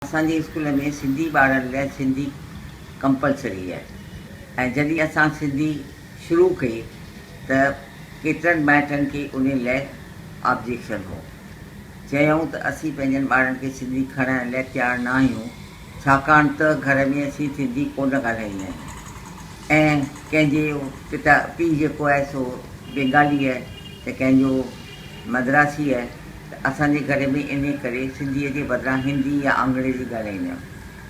اسان جي اسڪول ۾ سنڌي ٻارڙن لاء سنڌي ڪمپلسري آهي ۽ جڏهن اسان سنڌي شروع ڪئي ته ڪيترن مائٽن کي ان لاء آبجيڪشن هو. چيائون ته اسين پنهنجن ٻارڙن کي سنڌي کڻائڻ لاء تيار نه آهيون ڇاڪاڻ ته گهر ۾ اسين سنڌي ڪونه ڳالهائيندا آهيون ۽ ڪنهن جي پتا پيء جيڪو آهي سو بينگالي آهي ته ڪنهن جو مدراسي آهي ته اسان جي گهر ۾ انهيء ڪري سنڌيء جي بدران هندي يا آنگريزي ڳالهائيندي هيم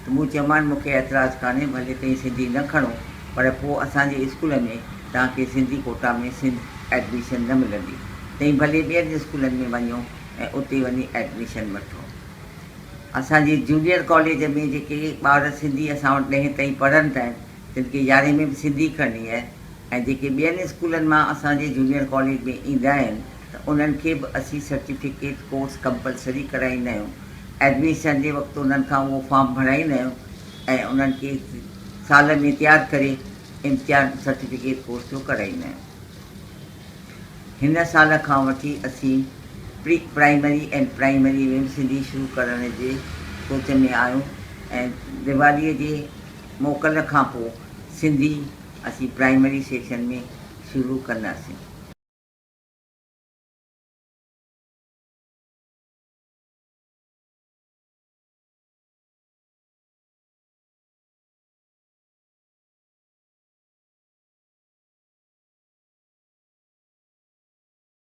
ته مون چيومان مون کي اعتراض ڪانهي ڀلي تهين سنڌي نه کڻو پر پوء اسان جي اسڪول ۾ توهان کي سنڌي ڪوٽا ۾ سنڌ ايڊميشن نه ملندي تهين ڀلي ٻين اسڪولن ۾ وڃو ۽ اتي وڃي ايڊميشن وٺو. اسان جي جونيئر ڪاليج ۾ جيڪي ٻار سنڌي اسان وٽ ڏهين تائين پڙهن ٿا تن کي يارهين ۾ به سنڌي کرڻي آهي. ۽ جيڪي ٻين اسڪولن مان اسان جي جونيئر ڪاليج ۾ ايندا آهن ته انهن کي به اسين سرٽيفڪيٽ ڪورس ڪمپلسري ڪرائيندا آهيون ايڊميشن جي وقت انهن کان اهو فارم ڀرائيندا آهيون ۽ انهن کي سال ۾ تيار ڪري امتحان سرٽيفڪيٽ ڪورس جو ڪرائيندا آهيون هن سال کان وٺي اسين پري پرائمري ۽ پرائمري ۾ به سنڌي شروع ڪرڻ جي سوچ ۾ آهيون ۽ ديوالي جي موڪل کان پوء سنڌي اسين پرائمري سيڪشن ۾ شروع ڪنداسين.